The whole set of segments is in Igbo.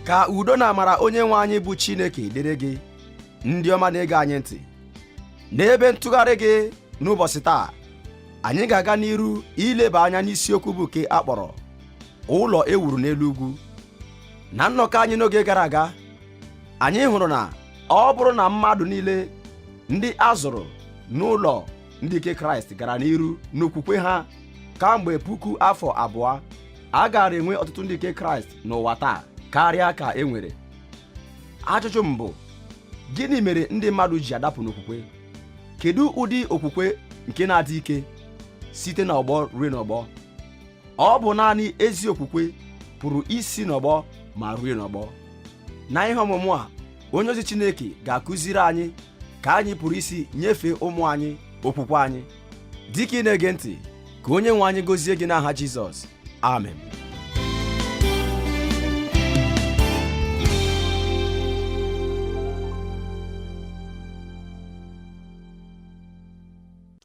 ka udo na amara onye nwe anyị bụ Chineke dịrị gị ndị ọma na-ege anyị ntị n'ebe ntụgharị gị n'ụbọchị taa anyị ga-aga n'iru ileba anya n'isiokwu bụ nke a kpọrọ ụlọ e wuru n'elu ugwu na nnọkọ anyị n'oge gara aga anyị hụrụ na ọ bụrụ na mmadụ niile ndị a zụrụ n'ụlọ ndị nke kraịst gara n'iru n'okwukwe ha kamgbe puku afọ abụọ a gaara enwe ọtụtụ ndị nke kraịst n'ụwa taa karịa ka e nwere ajụjụ m bụ gịnị mere ndị mmadụ ji adapụ n'okwukwe kedu ụdị okwukwe nke na-adị ike site n'ọgbọ ruo n'ọgbọ ọ bụ naanị ezi okwukwe pụrụ isi n'ọgbọ ma ruo n'ọgbọ na ihe ọmụmụ a onye ozi Chineke ga-akụziri anyị ka anyị pụrụ isi nyefee ụmụ anyị okwukwe anyị dịka ị na-ege ntị ka onye nwe anyị gọzie gị n'aha Jizọs amen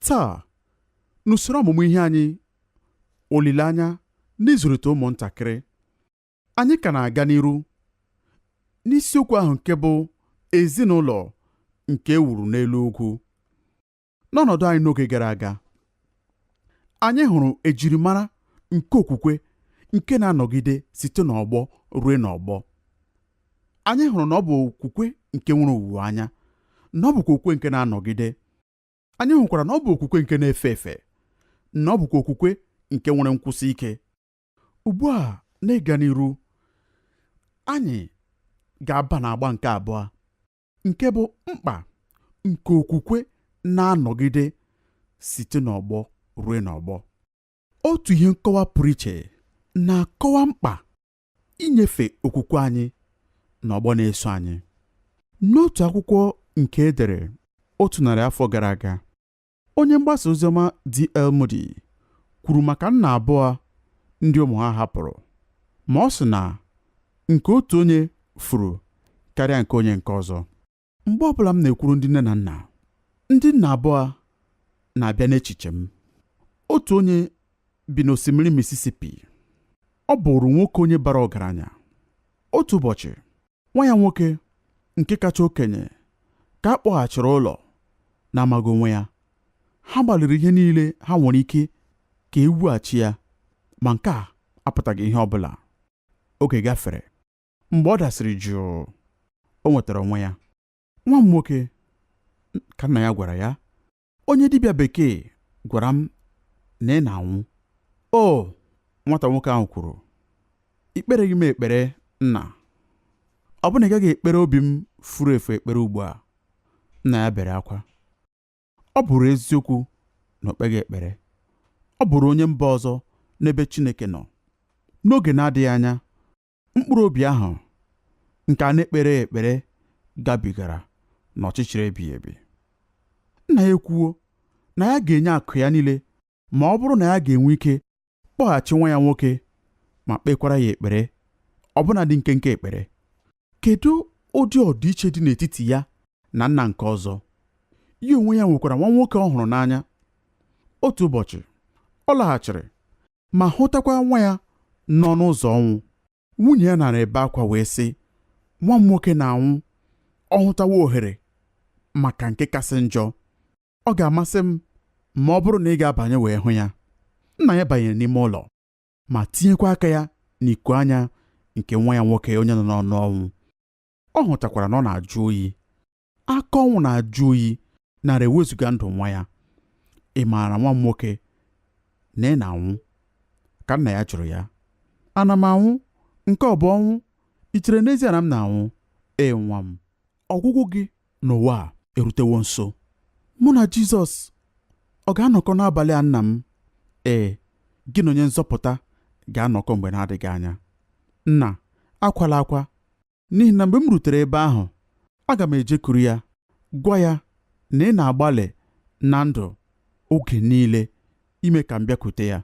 taa n'usoro ọmụmụ ihe anyị olileanya n'ịzụlite ụmụntakịrị anyị ka na-aga n'iru n'isiokwu ahụ nke bụ ezinụlọ nke e wuru n'elu ugwu n'ọnọdụ anyị n'oge gara aga anyị hụrụ ejirimara nke okwukwe nke na-anọgide site n'ọgbọ ruo n'ọgbọ anyị hụrụ na ọ bụ okwukwe nke nwere owuwe anya na ọ bụkwa okwukwe nke na-anọgide anyị hụkwara na ọ bụ okwukwe nke na-efe efe na ọ bụkwa okwukwe nke nwere nkwụsi ike ugbu a n'ịga n'iru anyị ga-aba n'agba nke abụọ nke bụ mkpa nke okwukwe na-anọgide site n'ọgbọ ruo n'ọgbọ otu ihe nkọwa pụrụ iche na-akọwa mkpa inyefe okwukwe anyị n'ọgbọ na-eso anyị n'otu akwụkwọ nke e dere otu narị afọ gara aga Onye mgbasa oziọma D.L. Moody kwuru maka nna abụọ ndị ụmụ ha hapụrụ, ma ọ sị na nke otu onye furu karịa nke onye nke ọzọ. Mgbe ọbụla m na-ekwuru ndị nne na nna, ndị nna abụọ na-abịa n'echiche m. Otu onye bi n'osimiri Mississippi. Ọ bụụrụ nwoke onye bara ọgaranya. Otu ụbọchị, nwa ya nwoke nke kacha okenye ka a kpọghachiri ụlọ na-amaghị onwe ya ha gbalịrị ihe niile ha nwere ike ka e wughachi ya ma nke a apụtaghị ihe ọ bụla oge gafere mgbe ọ dasịrị jụụ o nwetara onwe ya nwa m nwoke ka nna ya gwara ya onye dibịa bekee gwara m na ị na-anwụ o nwata nwoke ahụ kwuru i kpereghị m ekpere nna ọ bụ na ị gaghị ekpere obi m furu efu ekpere ugbu a nna ya bere akwa ọ bụrụ eziokwu na o kpeghị ekpere ọ bụrụ onye mba ọzọ n'ebe Chineke nọ n'oge na-adịghị anya mkpụrụ obi ahụ nke a na-ekpere ekpere gabigara n'ọchịchịrị ebighị ebi nna ya ekwuwo na ya ga-enye akụ ya niile ma ọ bụrụ na ya ga-enwe ike kpọghachi nwa ya nwoke ma kpekwara ya ekpere ọbụnadị nkenke ekpere kedu ụdị ọdịiche dị n'etiti ya na nna nke ọzọ ya onwe ya nwekwara nwa nwoke ọ hụrụ n'anya otu ụbọchị ọ laghachiri ma hụtakwa nwa ya nọ n'ọnụ ụzọ ọnwụ nwunye ya nara ebe akwa wee sị nwa m nwoke na-anwụ ọ hụtawa ohere maka nke kasị njọ ọ ga-amasị m ma ọ bụrụ na ị ga-abanye wee hụ ya nna ya banyere n'ime ụlọ ma tinyekwa aka ya n'iku anya nke nwa ya nwoke onye nọ n'ọnụ ọnwụ ọ hụtakwara na ọ na-ajụ oyi aka ọnwụ na-ajụ oyi nara ewezuga ndụ nwa ya ị maara nwa m nwoke na ị na-anwụ ka nna ya jụrụ ya ana m anwụ nke ọ bụ ọnwụ i chere n'ezie na m na-anwụ ee nwa m ọgwụgwụ gị n'ụwa a erutewo nso mụ na Jizọs ọ ga-anọkọ n'abalị a nna m ee gị na onye nzọpụta ga-anọkọ mgbe na-adịghị anya nna akwala akwa n'ihi na mgbe m rutere ebe ahụ aga m ejekuru ya gwa ya na ị na-agbalị na ndụ oge niile ime ka m bịakwute ya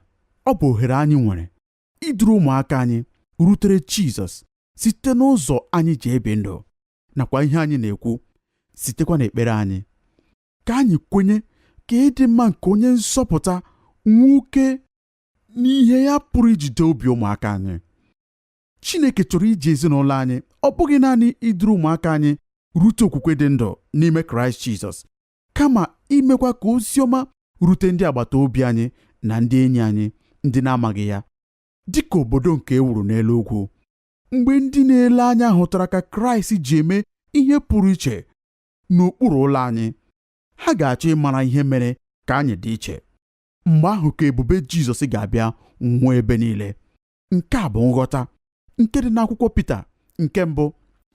ọ bụ ohere anyị nwere iduru ụmụaka anyị rutere Jizọs site n'ụzọ anyị ji ebi ndụ nakwa ihe anyị na-ekwu sitekwa n'ekpere anyị ka anyị kwenye ka ịdị mma nke onye nzọpụta nwukee n'ihe ya pụrụ ijide obi ụmụaka anyị Chineke chọrọ iji ezinụlọ anyị ọ bụghị naanị iduru ụmụaka anyị rute okwukwe dị ndụ n'ime Kraịst Jizọs kama imekwa ka ozi ọma rute ndị agbata obi anyị na ndị enyi anyị ndị na-amaghị ya dị ka obodo nke e wuru n'elu ugwu mgbe ndị na-ele anya hụtara ka Kraịst ji eme ihe pụrụ iche n'okpuru ụlọ anyị ha ga-achọ ịmara ihe mere ka anyị dị iche mgbe ahụ ka ebube Jizọs ga-abịa nwuo ebe niile nke a bụ nghọta nke dị n'akwụkwọ Pita nke mbụ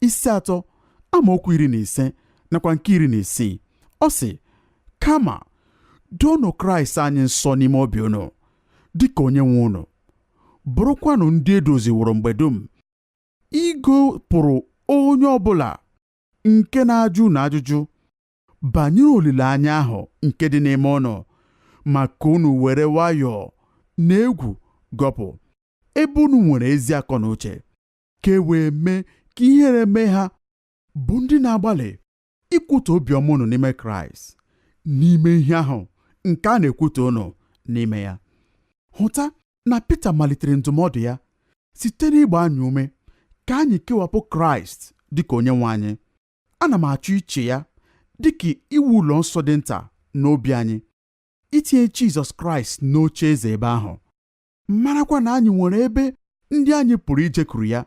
isi atọ amaokwu iri na ise nakwa nke iri na isii ọ sị kama doonụ Kraịst anyị nsọ n'ime obi unu dịka onye nwe unu bụrụkwanụ ndị e doziworo mgbe dum ịgọpụrụ onye ọbụla nke na-ajụ unu ajụjụ banyere olileanya ahụ nke dị n'ime unu ma ka unu were nwayọọ na egwu gọpụ ebe unu nwere ezi akọ na uche ka e wee mee ka ihere mee ha bụ ndị na-agbalị ikwutọ obiọma unu n'ime kraịst n'ime ihe ahụ nke a na-ekwutọ unu n'ime ya hụta na Pita malitere ndụmọdụ ya site n'ịgba anyị ume ka anyị kewapụ kraịst dịka onye nwe anyị ana m achọ iche ya dị ka iwu ụlọ nsọ dị nta n'obi anyị itinye Jizọs Kraịst n'oche eze ebe ahụ marakwa na anyị nwere ebe ndị anyị pụrụ ijekwuru ya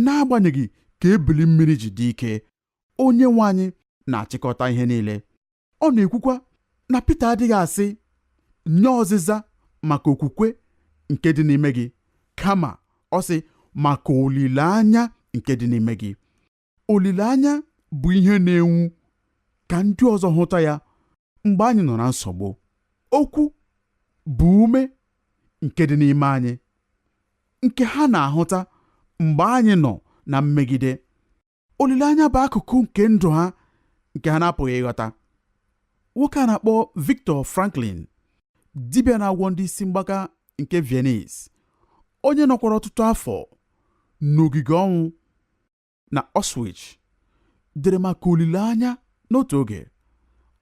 n'agbanyeghị ka ebili mmiri ji dị ike onye nwe anyị na-achịkọta ihe niile ọ na-ekwukwa na Pita adịghị asị nye ọzịza maka okwukwe nke dị n'ime gị kama ọ sị maka olileanya nke dị n'ime gị olileanya bụ ihe na-enwu ka ndị ọzọ hụta ya mgbe anyị nọ na nsogbu okwu bụ ume nke dị n'ime anyị nke ha na-ahụta mgbe anyị nọ na mmegide olileanya bụ akụkụ nke ndụ ha nke ha na-apụghị ịghọta nwoke a na-akpọ Victor Franklin dibịa na-agwọ ndị isi mgbaka nke Venice onye nọkwara ọtụtụ afọ n'ogige ọnwụ na Auschwitz dere maka olileanya n'otu oge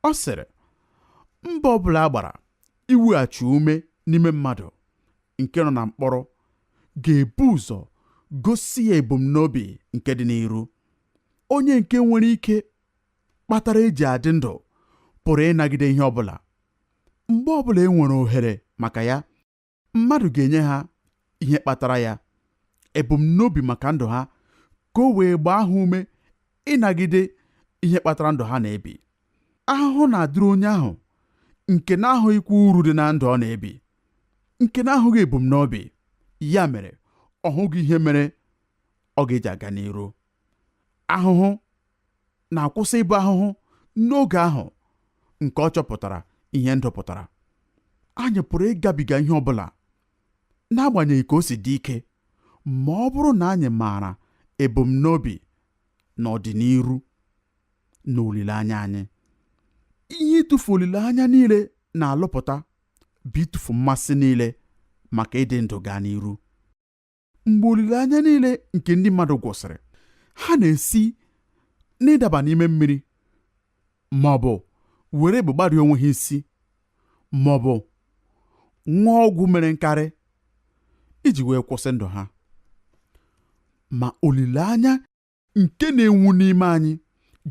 ọ sịrị mbọ ọbụla a gbara iweghachi ume n'ime mmadụ nke nọ na mkpọrọ ga-ebu ụzọ gosi ya ebumnobi nke dị n'iru onye nke nwere ihe kpatara e ji adị ndụ pụrụ ịnagide ihe ọbụla mgbe ọ bụla e nwere ohere maka ya mmadụ ga-enye ha ihe kpatara ya ebumnobi maka ndụ ha ka o wee gbaa ha ume ịnagide ihe kpatara ndụ ha na-ebi ahụhụ na-adịrị onye ahụ nke na-ahụghịkwa uru dị na ndụ ọ na-ebi nke na-ahụghị ebumnobi ya mere ọ hụghị ihe mere ọ ga-eji aga n'iru ahụhụ na-akwụsị ịbụ ahụhụ n'oge ahụ nke ọ chọpụtara ihe ndụ pụtara anyị pụrụ ịgabiga ihe ọ bụla n'agbanyeghị ka o si dị ike ma ọ bụrụ na anyị maara ebumnobi na ọdịniru na olileanya anyị ihe ịtụfu olileanya niile na-alụpụta bụ ịtụfu mmasị niile maka ịdị ndụ gaa n'iru mgbe olileanya niile nke ndị mmadụ gwụsịrị ha na-esi n'ịdaba n'ime mmiri ma ọ bụ were egbe gbarie onwe ha isi ma ọ bụ ṅụọ ọgwụ mere nkarị iji wee kwụsị ndụ ha ma olileanya nke na-enwu n'ime anyị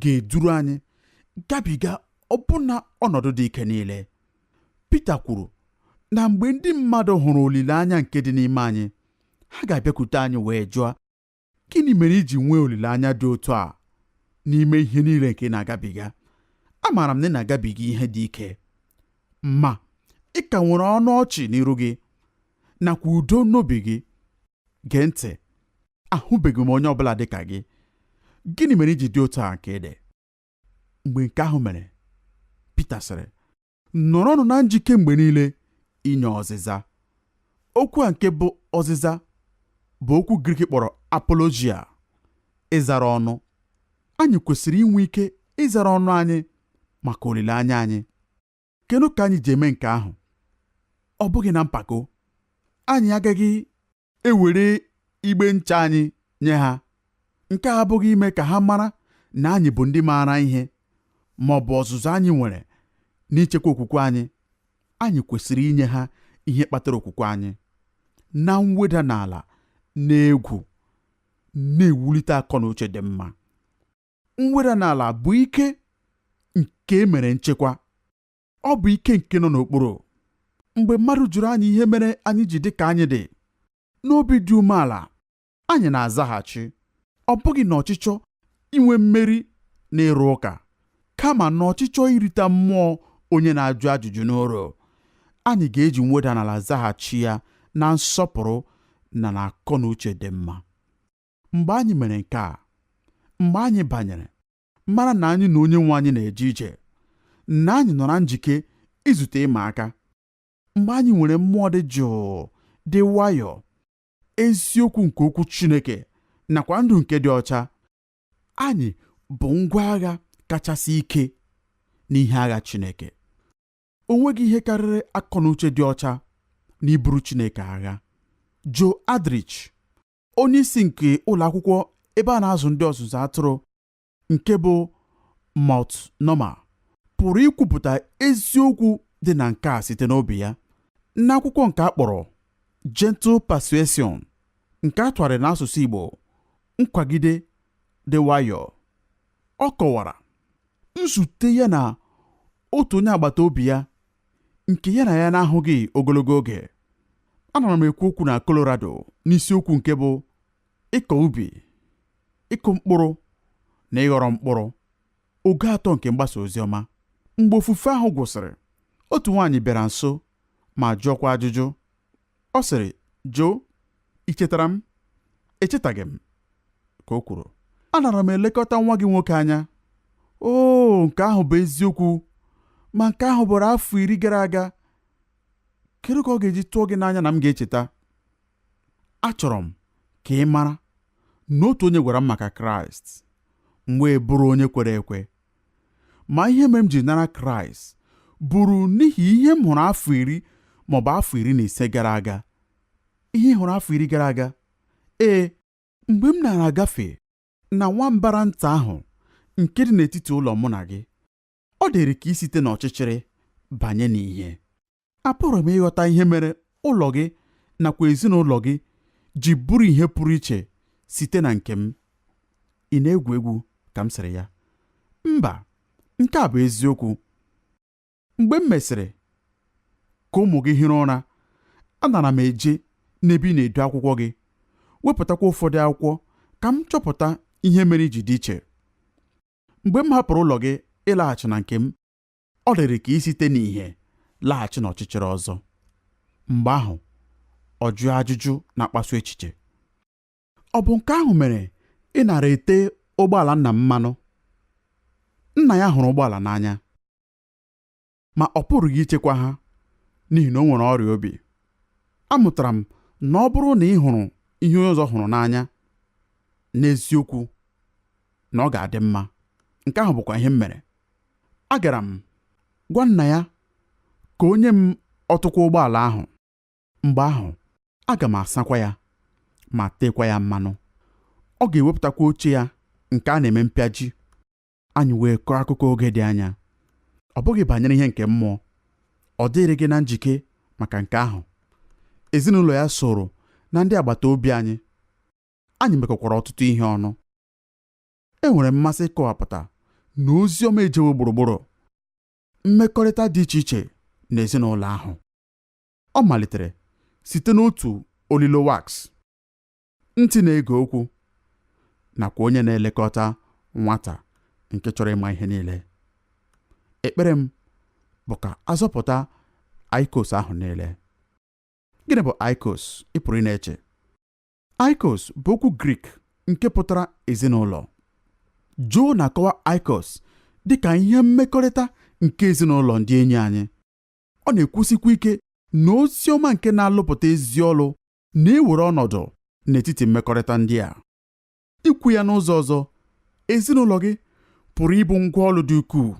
ga-eduru anyị gabiga ọbụna ọnọdụ dị ike niile. Pita kwuru na mgbe ndị mmadụ hụrụ olileanya nke dị n'ime anyị, ha ga-abịakwute anyị wee jụọ, Gịnị mere iji nwee olileanya dị otu a n'ime ihe niile nke ị na-agabiga? Amaara m na ị na-agabiga ihe dị ike, ma ị ka nwere ọnụ ọchị n'iru gị nakwa udo n'obi gị. Gee ntị ahụbeghị m onye ọbụla dị ka gị gịnị mere iji dị otu a nke ị dị mgbe nke ahụ mere Pita sịrị nọrọnụ na njike mgbe niile inye ọzịza okwu a nke bụ ọzịza bụ okwu Grik kpọrọ apologia ịzara ọnụ anyị kwesịrị inwe ike ịzara ọnụ anyị maka olileanya anyị kedu ka anyị ji eme nke ahụ ọ bụghị na mpako anyị agaghị ewere igbe ncha anyị nye ha nke a abụghị ime ka ha mara na anyị bụ ndị maara ihe ma ọ bụ ọzụzụ anyị nwere n'ichekwa okwukwe anyị anyị kwesịrị inye ha ihe kpatara okwukwe anyị na mweda n'ala na egwu na-ewulite akọ na uche dị mma mweda n'ala bụ ike nke e mere nchekwa ọ bụ ike nke nọ n'okpuru mgbe mmadụ jụrụ anyị ihe mere anyị ji dị ka anyị dị n'obi dị umeala anyị na-azaghachi ọ bụghị na ọchịchọ inwe mmeri na ịrụ ụka kama na ọchịchọ irite mmụọ onye na-ajụ ajụjụ n'uru anyị ga-eji mweda n'ala zaghachi ya na nsọpụrụ na na akọ na uche dị mma mgbe anyị mere nke a mgbe anyị banyere mara na anyị na onye nwe anyị na-eje ije na anyị nọ na njike izute ịma aka mgbe anyị nwere mmụọ dị jụụ dị nwayọọ eziokwu nke okwu Chineke nakwa ndụ nke dị ọcha anyị bụ ngwa agha kachasị ike n'ihe agha Chineke o nweghị ihe karịrị akọ na uche dị ọcha na iburu Chineke agha Joe Aldrich onye isi nke ụlọ akwụkwọ ebe a na-azụ ndị ọzụzụ atụrụ nke bụ Multnomah pụrụ ikwupụta eziokwu dị na nke a site n'obi ya n'akwụkwọ nke a kpọrọ Gentle Persuasion nke a tụgharịrị n'asụsụ Igbo nkwagide dị nwayọọ ọ kọwara nzute ya na otu onye agbata obi ya nke ya na ya na-ahụghị ogologo oge anara m ekwu okwu na Colorado n'isiokwu nke bụ ịkọ ubi ịkụ mkpụrụ na ịghọrọ mkpụrụ oge atọ nke mgbasa ozi ọma mgbe ofufe ahụ gwụsịrị otu nwaanyị bịara nso ma jụọkwa ajụjụ Ọ sịrị, Joe, i chetara m? Echetaghị m, ka o kwuru. Anara m elekọta nwa gị nwoke anya. Oo, nke ahụ bụ eziokwu. Ma nke ahụ bụrụ afọ iri gara aga. Kedu ka ọ ga-eji tụọ gị n'anya na m ga-echeta? Achọrọ m ka ị mara na otu onye gwara m maka Kraịst. M wee bụrụ onye kwere ekwe. ma ihe mere m ji nara kraịst bụrụ n'ihi ihe m hụrụ afọ iri maọbụ afọ iri na ise gara aga ihe ị hụrụ afọ iri gara aga ee mgbe m nara agafe na nwa mbara nta ahụ nke dị n'etiti ụlọ mụ na gị ọ dịrị ka isite n'ọchịchịrị banye n'ìhè apụrụ m ịghọta ihe mere ụlọ gị nakwa ezinụlọ gị ji bụrụ ihe pụrụ iche site na nke m ị na-egwu egwu ka m sịrị ya mba nke a bụ eziokwu mgbe m mesịrị ka ụmụ gị hiri ụra anara m eje n'ebe ị na-edo akwụkwọ gị wepụtakwa ụfọdụ akwụkwọ ka m chọpụta ihe mere i ji dị iche mgbe m hapụrụ ụlọ gị ịlaghachi na nke m ọ dịrị ka isite n'ìhè laghachi n'ọchịchịrị ọzọ mgbe ahụ ọ jụọ ajụjụ na-akpasu echiche ọ bụ nke ahụ mere ị nara ete ụgbọala nna m mmanụ nna ya hụrụ ụgbọala n'anya ma ọ pụrụghị ichekwa ha n'ihi na o nwere ọrịa obi amụtara m na ọ bụrụ na ị hụrụ ihe onye ọzọ hụrụ n'anya n'eziokwu na ọ ga-adị mma nke ahụ bụkwa ihe m mere agara m gwa nna ya ka o nye m ọtụkwa ụgbọala ahụ mgbe ahụ aga m asakwa ya ma teekwa ya mmanụ ọ ga-ewepụtakwa oche ya nke a na-eme mpịaji anyị wee kọọ akụkọ oge dị anya ọ bụghị banyere ihe nke mmụọ ọ dịrịghị na njike maka nke ahụ ezinụlọ ya soro na ndị agbata obi anyị anyị mekọkwara ọtụtụ ihe ọnụ enwere mmasị ịkọwapụta na ozi ọma ejewo gburugburu mmekọrịta dị iche iche n'ezinụlọ ahụ ọ malitere site n'otu olilo wax ntị na-ege okwu nakwa onye na-elekọta nwata nke chọrọ ịma ihe niile ekpere m bụ ka a zọpụta oikos ahụ niile gịnị bụ oikos ị pụrụ ịna-eche Oikos bụ okwu Grik nke pụtara ezinụlọ. Joe na-akọwa Oikos dị ka ihe mmekọrịta nke ezinụlọ ndị enyi anyị. Ọ na-ekwusikwa ike na ozi ọma nke na-alụpụta ezi ọlụ na-ewere ọnọdụ n'etiti mmekọrịta ndị a. Ikwu ya n'ụzọ ọzọ, ezinụlọ gị pụrụ ịbụ ngwa ọlụ dị ukwuu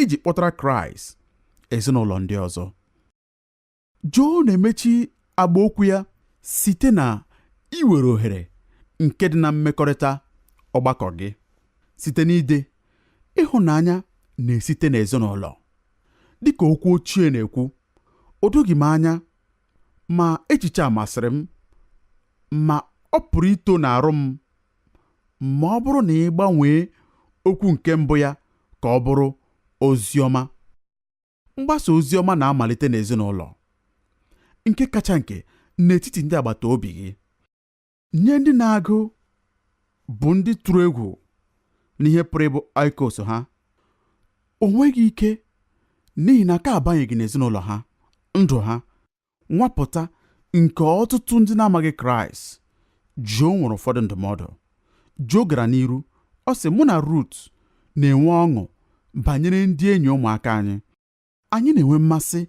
iji kpọtara Kraịst ezinụlọ ndị ọzọ. Joe na-emechi agba okwu ya site na iwere ohere nke dị na mmekọrịta ọgbakọ gị site n'ide ịhụnanya na-esite n'ezinụlọ. Dịka okwu ochie na-ekwu, o doghị m anya ma echiche a masịrị m ma ọ pụrụ ito n'arụ m ma ọ bụrụ na ị gbanwee okwu nke mbụ ya ka ọ bụrụ ozi ọma. mgbasa ozi ọma na-amalite n'ezinụlọ nke kacha nke n'etiti ndị agbata obi gị nye ndị na-agụ bụ ndị tụrụ egwu n'ihe pụrụ ịbụ oikos ha o nweghị ike n'ihi na aka abanyeghị n'ezinụlọ ha ndụ ha nwapụta nke ọtụtụ ndị na-amaghị Kraịst, Joe nwere ụfọdụ ndụmọdụ. Joe gara n'iru, ọ sị, Mụ na Rut na-enwe ọṅụ banyere ndị enyi ụmụaka anyị. Anyị na-enwe mmasị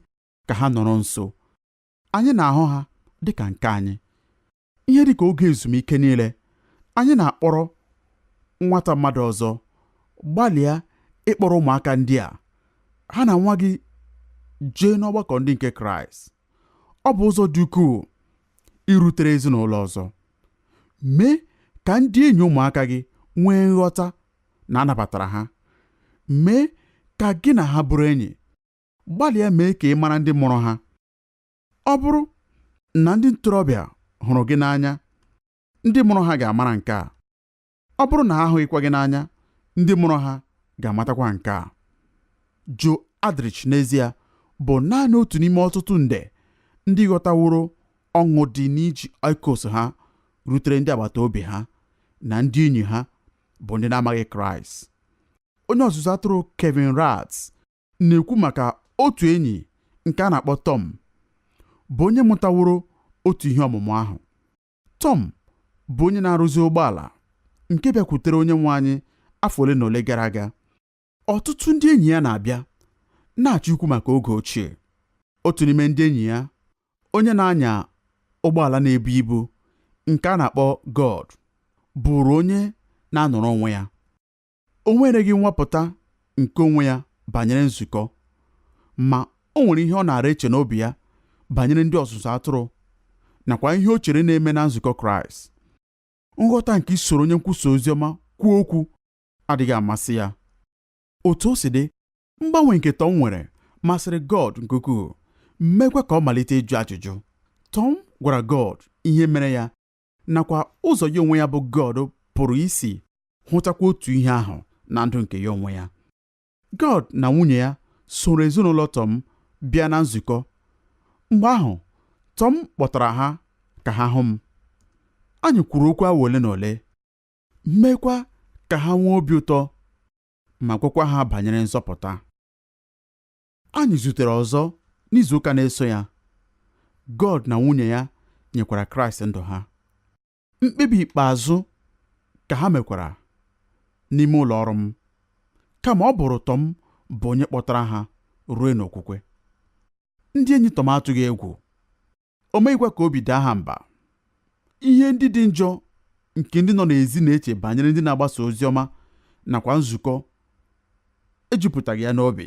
ka ha nọrọ nso. Anyị na-ahụ ha dị ka nke anyị. ihe dị ka oge ezumike niile anyị na-akpọrọ nwata mmadụ ọzọ gbalịa ịkpọrọ ụmụaka ndị a ha na nwa gị jee n'ọgbakọ ndị nke kraịst ọ bụ ụzọ dị ukwuu irutere ezinụlọ ọzọ mee ka ndị enyi ụmụaka gị nwee nghọta na a nabatara ha mee ka gị na ha bụrụ enyi gbalịa mee ka ị mara ndị mụrụ ha ọ bụrụ na ndị ntorobịa hụrụ gị n'anya ndị mụrụ ha ga-amara nke a ọ bụrụ na ha ahụghịkwa gị n'anya ndị mụrụ ha ga-amatakwa nke a Joe Aldrich n'ezie bụ naanị otu n'ime ọtụtụ nde ndị ghọtaworo ọṅụ dị n'iji oikos ha rutere ndị agbata obi ha na ndị enyi ha bụ ndị na-amaghị Kraịst onye ọzụzụ atụrụ Kevin Ratz na-ekwu maka otu enyi nke a na-akpọ Tọm bụ onye mụtaworo otu ihe ọmụmụ ahụ. Tọm bụ onye na-arụzi ụgbọala nke bịakwutere onye nwe anyị afọ ole na ole gara aga. Ọtụtụ ndị enyi ya na-abịa na-achọ ikwu maka oge ochie. Otu n'ime ndị enyi ya, onye na-anya ụgbọala na-ebu ibu nke a na-akpọ Gord, bụụrụ onye na-anọrọ onwe ya. O nwereghị nwapụta nke onwe ya banyere nzukọ, ma o nwere ihe ọ na-ara eche n'obi ya banyere ndị ọzụzụ atụrụ nakwa ihe o chere na-eme na nzukọ Kraịst. Nghọta nke isoro onye nkwusa ozi ọma kwuo okwu adịghị amasị ya. Otu o si dị, mgbanwe nke Tom nwere masịrị Gord nke ukwuu, meekwa ka ọ malite ịjụ ajụjụ. Tom gwara Gord ihe mere ya nakwa ụzọ ya onwe ya bụ God pụrụ isi hụtakwa otu ihe ahụ na ndụ nke ya onwe ya God na nwunye ya soro ezinụlọ Tọm bịa na nzukọ mgbe ahụ Tọm kpọtara ha ka ha hụ m anyị kwuru okwu awa ole na ole meekwa ka ha nwee obi ụtọ ma gwakwa ha banyere nzọpụta Anyị zutere ọzọ n'izuụka na-eso ya. God na nwunye ya nyekwara Kraịst ndụ ha. Mkpebi ikpeazụ ka ha mekwara n'ime ụlọ ọrụ m kama ọ bụrụ Tọm bụ onye kpọtara ha ruo n'okwukwe. Ndị enyi Tọm atụghị egwu o meghịkwa ka obi daa ha mba ihe ndị dị njọ nke ndị nọ n'ezi na-eche banyere ndị na-agbasa ozi ọma nakwa nzukọ ejupụtaghị ya n'obi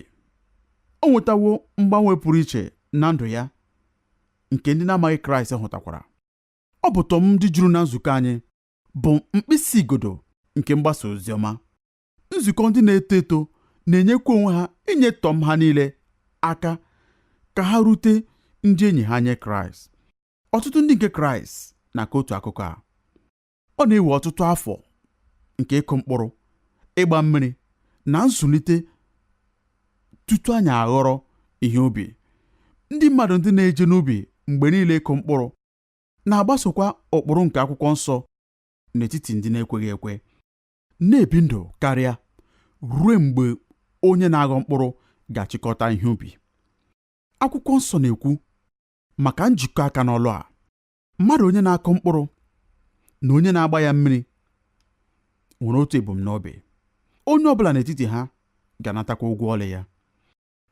o nwetawo mgbanwe pụrụ iche na ndụ ya nke ndị na-amaghị kraịst hụtakwara ọ bụ tọm ndị juru na nzukọ anyị bụ mkpịsị igodo nke mgbasa ozi ọma nzukọ ndị na-eto eto na-enyekwa onwe ha inye tọm ha niile aka ka ha rute ndị enyi ha nye kraịst ọtụtụ ndị nke kraịst na-akọ otu akụkọ a ọ na-ewe ọtụtụ afọ nke ịkụ mkpụrụ ịgba mmiri na nzụlite tutu anyị aghọrọ ihe ubi ndị mmadụ ndị na-eje n'ubi mgbe niile ịkụ mkpụrụ na-agbasokwa ụkpụrụ nke akwụkwọ nsọ n'etiti ndị na-ekweghị ekwe na-ebi ndụ karịa ruo mgbe onye na-aghọ mkpụrụ ga-achịkọta ihe ubi akwụkwọ nsọ na-ekwu maka njikọ aka n'ọlụ a mmadụ onye na-akụ mkpụrụ na onye na-agba ya mmiri nwere otu ebumnobi onye ọ bụla n'etiti ha ga-anatakwa ụgwọ ọlụ ya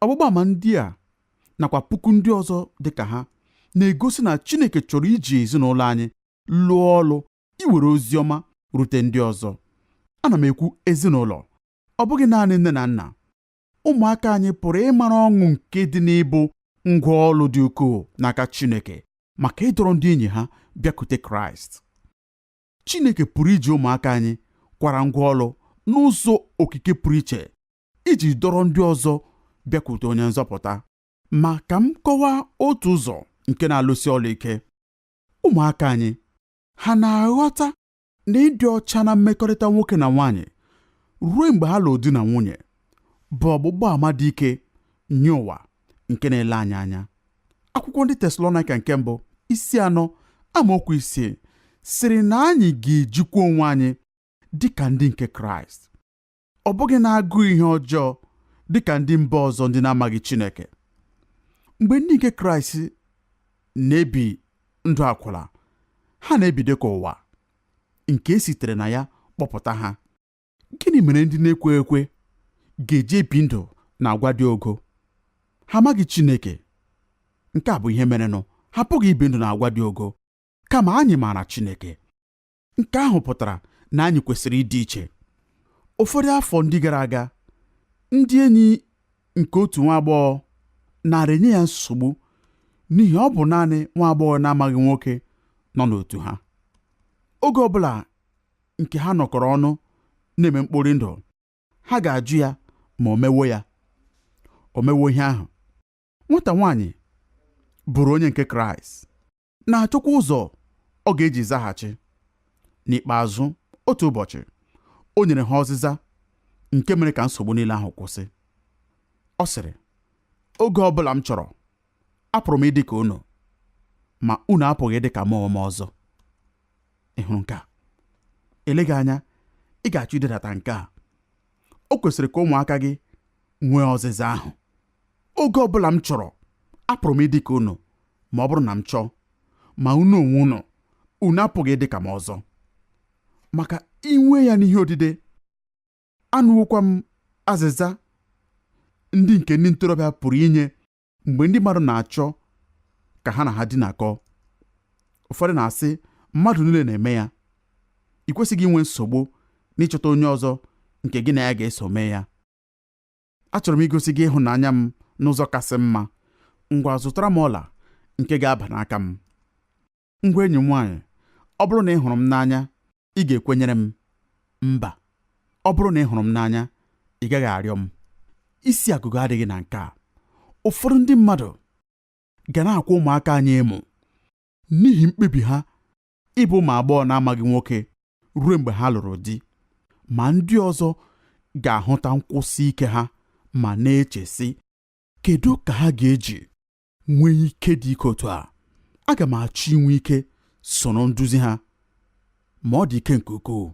ọgbụgba ama ndị a nakwa puku ndị ọzọ dị ka ha na-egosi na Chineke chọrọ iji ezinụlọ anyị lụọ ọlụ iwere ozi ọma rute ndị ọzọ ana m ekwu ezinụlọ ọ bụghị naanị nne na nna ụmụaka anyị pụrụ ịmara ọṅụ nke dị n'ịbụ ngwa ọlụ dị ukwuu n'aka Chineke maka ịdọrọ ndị enyi ha bịakute Kraịst Chineke pụrụ iji ụmụaka anyị kwara ngwa ọlụ n'ụzọ okike pụrụ iche iji dọrọ ndị ọzọ bịakwute onye nzọpụta ma ka m kọwaa otu ụzọ nke na-alụsi ọlụ ike ụmụaka anyị ha na-aghọta na ịdị ọcha na mmekọrịta nwoke na nwaanyị ruo mgbe ha lụrụ di na nwunye bụ ọgbụgba ama dị ike nye ụwa nke na-ele anyị anya akwụkwọ ndị Tesalonaịka nke mbụ isi anọ amaokwu isii sịrị na anyị ga-ejikwa onwe anyị dị ka ndị nke Kraịst ọ bụghị n'agụụ ihe ọjọọ dị ka ndị mba ọzọ ndị na-amaghị Chineke mgbe ndị nke Kraịst na-ebi ndụ akwụla ha na-ebi dị ka ụwa nke e sitere na ya kpọpụta ha gịnị mere ndị na-ekwe ekwe ga-eji ebi ndụ na agwa dị ogo ha amaghị Chineke nke a bụ ihe merenụ ha apụghị ibi ndụ na agwa dị ogo kama anyị maara Chineke nke ahụ pụtara na anyị kwesịrị ịdị iche ụfọdụ afọ ndị gara aga ndị enyi nke otu nwa agbọghọ nara enye ya nsogbu n'ihi ọ bụ naanị nwa agbọghọ na-amaghị nwoke nọ n'otu ha oge ọbụla nke ha nọkọrọ ọnụ na-eme mkpori ndụ ha ga-ajụ ya ma o mewo ya o mewo ihe ahụ nwata nwaanyị bụrụ onye nke kraịst na-achọkwa ụzọ ọ ga-eji zaghachi. N'ikpeazụ, otu ụbọchị, o nyere ha ọzịza nke mere ka nsogbu niile ahụ kwụsị. Ọ sịrị, Oge ọ bụla m chọrọ, apụrụ m ịdị ka unu, ma unu apụghị ịdị ka mụ onwe m ọzọ. Ị hụrụ nke a? Eleghị anya, ị ga-achọ idedata nke a. O kwesịrị ka ụmụaka gị nwee ọzịza ahụ. oge ọ bụla m chọrọ apụrụ m ịdị ka unu ma ọ bụrụ na m chọọ ma unu onwe unu unu apụghị ịdị ka m ọzọ maka inwe ya n'ihe odide anụwokwa m azịza ndị nke ndị ntorobịa pụrụ inye mgbe ndị mmadụ na-achọ ka ha na ha dinakọ ụfọdụ na-asị mmadụ niile na-eme ya i kwesịghị inwe nsogbu n'ịchọta onye ọzọ nke gị na ya ga-eso mee ya achọrọ m igosi gị ịhụnanya m n'ụzọ kasị mma ngwa zụtara m ọla nke ga-aba n'aka m ngwa enyi m nwaanyị ọ bụrụ na ị hụrụ m n'anya ị ga-ekwenyere m mba ọ bụrụ na ị hụrụ m n'anya ị gaghị arịọ m isi agụgọ adịghị na nke a ụfọdụ ndị mmadụ ga na-akwa ụmụaka anyị emo n'ihi mkpebi ha ịbụ ụmụ agbọghọ na-amaghị nwoke ruo mgbe ha lụrụ di ma ndị ọzọ ga-ahụta nkwụsi ike ha ma na-eche sị kedu ka ha ga-eji nwee ike dị ike otu a aga m achọ inwe ike soro nduzi ha ma ọ dị ike nke ukwuu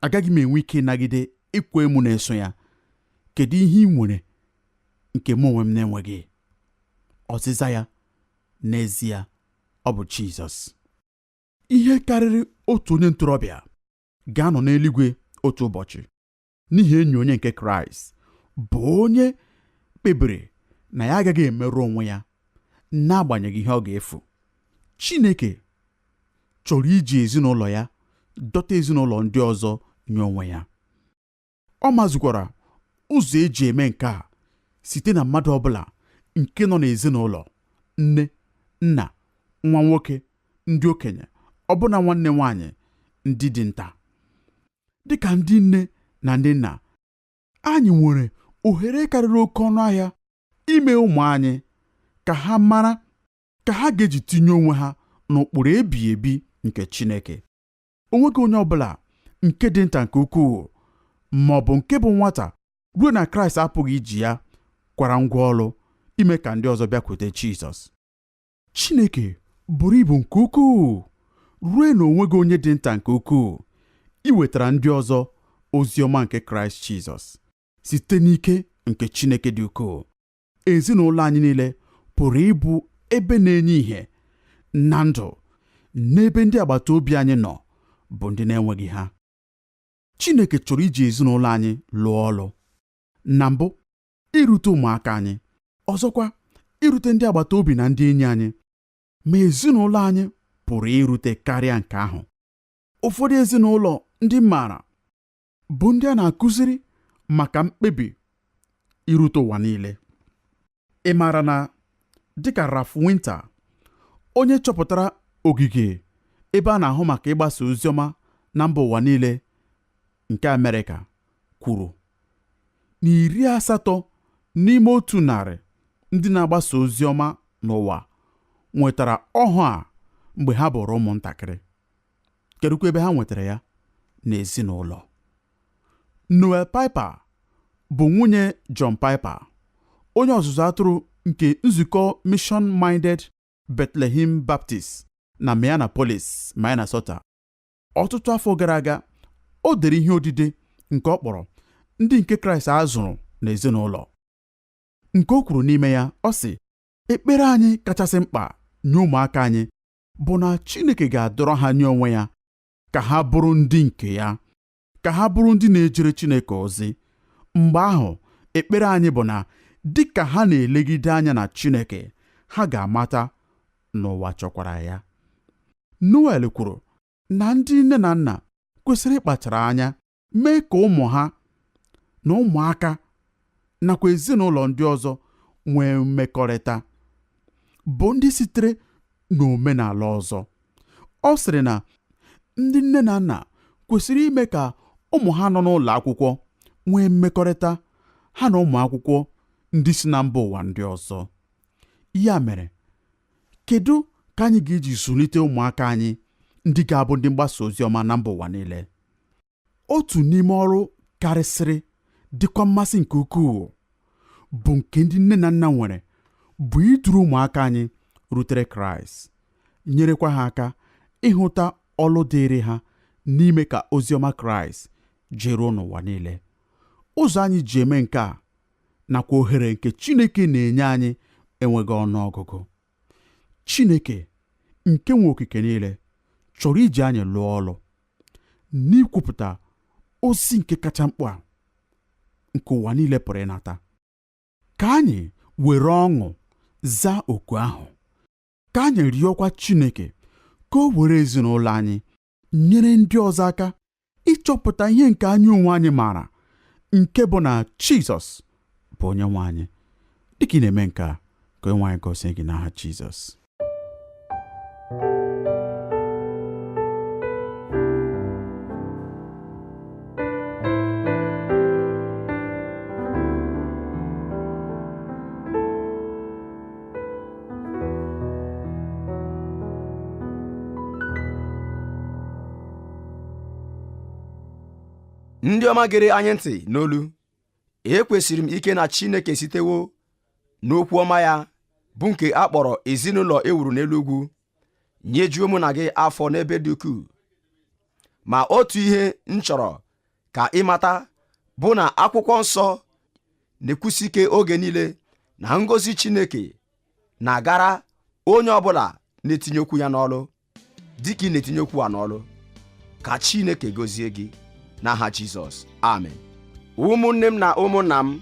agaghị m enwe ike ịnagide ịkwa emo na-eso ya kedu ihe i nwere nke mụ onwe m na-enweghị ọzịza ya n'ezie ọ bụ Jizọs ihe karịrị otu onye ntorobịa ga-anọ n'eluigwe otu ụbọchị n'ihi enyi onye nke Kraịst bụ onye kpebiri na ya agaghị emerụ onwe ya n'agbanyeghị ihe ọ ga-efu Chineke chọrọ iji ezinụlọ ya dọta ezinụlọ ndị ọzọ nye onwe ya ọ mazukwara ụzọ eji eme nke a site na mmadụ ọbụla nke nọ n'ezinụlọ nne nna nwa nwoke ndị okenye ọbụna nwanne nwaanyị ndị dị nta dịka ndị nne na ndị nna anyị nwere ohere karịrị oke ọnụ ahịa ime ụmụ anyị ka ha mara ka ha ga-eji tinye onwe ha n'ụkpụrụ ebighị ebi nke Chineke o nweghị onye ọ bụla nke dị nta nke ukwuu ma ọ bụ nke bụ nwata ruo na kraịst apụghị iji ya kwara ngwa ọlụ ime ka ndị ọzọ bịakwute jizọs chineke buru ibu nke ukwuu ruo na o nweghị onye dị nta nke ukwuu iwetara ndị ọzọ ozi ọma nke kraịst jizọs site n'ike nke chineke dị ukwuu ezinụlọ anyị niile pụrụ ịbụ ebe na-enye ìhè na ndụ n'ebe ndị agbata obi anyị nọ bụ ndị na-enweghị ha Chineke chọrọ iji ezinụlọ anyị lụọ ọlụ na mbụ irute ụmụaka anyị ọzọkwa irute ndị agbata obi na ndị enyi anyị ma ezinụlọ anyị pụrụ irute karịa nke ahụ ụfọdụ ezinụlọ ndị m maara bụ ndị a na-akụziri maka mkpebi irute ụwa niile ị maara na dịka Ralph Winter onye chọpụtara ogige ebe a na-ahụ maka ịgbasa oziọma na mba ụwa niile nke Amerịka kwuru na iri asatọ n'ime otu narị ndị na-agbasa ozi ọma n'ụwa nwetara ọhụụ a mgbe ha bụrụ ụmụntakịrị kedụkwa ebe ha nwetara ya n'ezinụlọ Noel Piper bụ nwunye John Piper onye ọzụzụ atụrụ nke nzukọ Mission Minded Bethlehem Baptist na Minneapolis, Minnesota ọtụtụ afọ gara aga o dere ihe odide nke ọ kpọrọ ndị nke Kraịst a zụrụ n'ezinụlọ nke o kwuru n'ime ya ọ sị ekpere anyị kachasị mkpa nye ụmụaka anyị bụ na Chineke ga-adọrọ ha nye onwe ya ka ha bụrụ ndị nke ya ka ha bụrụ ndị na-ejere Chineke ozi mgbe ahụ ekpere anyị bụ na dị ka ha na-elegide anya na Chineke ha ga-amata na ụwa chọkwara ya Noel kwuru na ndị nne na nna kwesịrị ịkpachara anya mee ka ụmụ ha na ụmụaka nakwa ezinụlọ ndị ọzọ nwee mmekọrịta bụ ndị sitere n'omenala ọzọ ọ sịrị na ndị nne na nna kwesịrị ime ka ụmụ ha nọ n'ụlọ akwụkwọ nwee mmekọrịta ha na ụmụ akwụkwọ ndị si na mba ụwa ndị ọzọ ya mere kedu ka anyị ga-eji zụlite ụmụaka anyị ndị ga-abụ ndị mgbasa ozi ọma na mba ụwa niile otu n'ime ọrụ karịsịrị dịkwa mmasị nke ukwuu bụ nke ndị nne na nna nwere bụ iduru ụmụaka anyị rutere kraịst nyerekwa ha aka ịhụta ọlụ dịịrị ha n'ime ka ozi ọma kraịst jeruo n'ụwa niile ụzọ anyị ji eme nke a nakwa ohere nke Chineke na-enye anyị enweghị ọnụ ọgụgụ Chineke nke nwe okike niile chọrọ iji anyị lụọ ọlụ n'ikwupụta ozi nke kacha mkpa nke ụwa niile pụrụ ịnata ka anyị were ọṅụ zaa oku ahụ ka anyị rịọkwa Chineke ka o were ezinụlọ anyị nyere ndị ọzọ aka ịchọpụta ihe nke anyị onwe anyị maara nke bụ na Jizọs bụ onye nwe anyị dịka ị na-eme nke a ka onye nwe anyị gọzie gị n'aha Jizọs ndị ọma gere anyị ntị n'olu ekwesiri m ike na Chineke sitewo n'okwu ọma ya bụ nke a kpọrọ ezinụlọ e wuru n'elu ugwu nyejuo mụ na gị afọ n'ebe dị ukwuu ma otu ihe m chọrọ ka ị mata bụ na akwụkwọ nsọ na-ekwusi ike oge niile na ngọzi Chineke na-agara onye ọbụla na-etinye okwu ya n'ọlụ dịka ị na-etinye okwu a n'ọlụ ka Chineke gọzie gị n'aha Jizọs amen ụmụnne m na ụmụnna m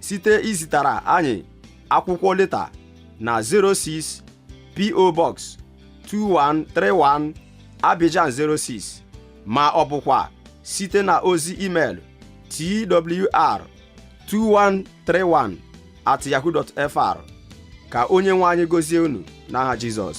site izitara anyị akwụkwọ leta na 06 PO Box 2131 Abidjan 06 ma ọ bụkwa site na ozi email twr 2131 at yahoo fr ka onye nwe anyị gọzie unu n'aha Jizọs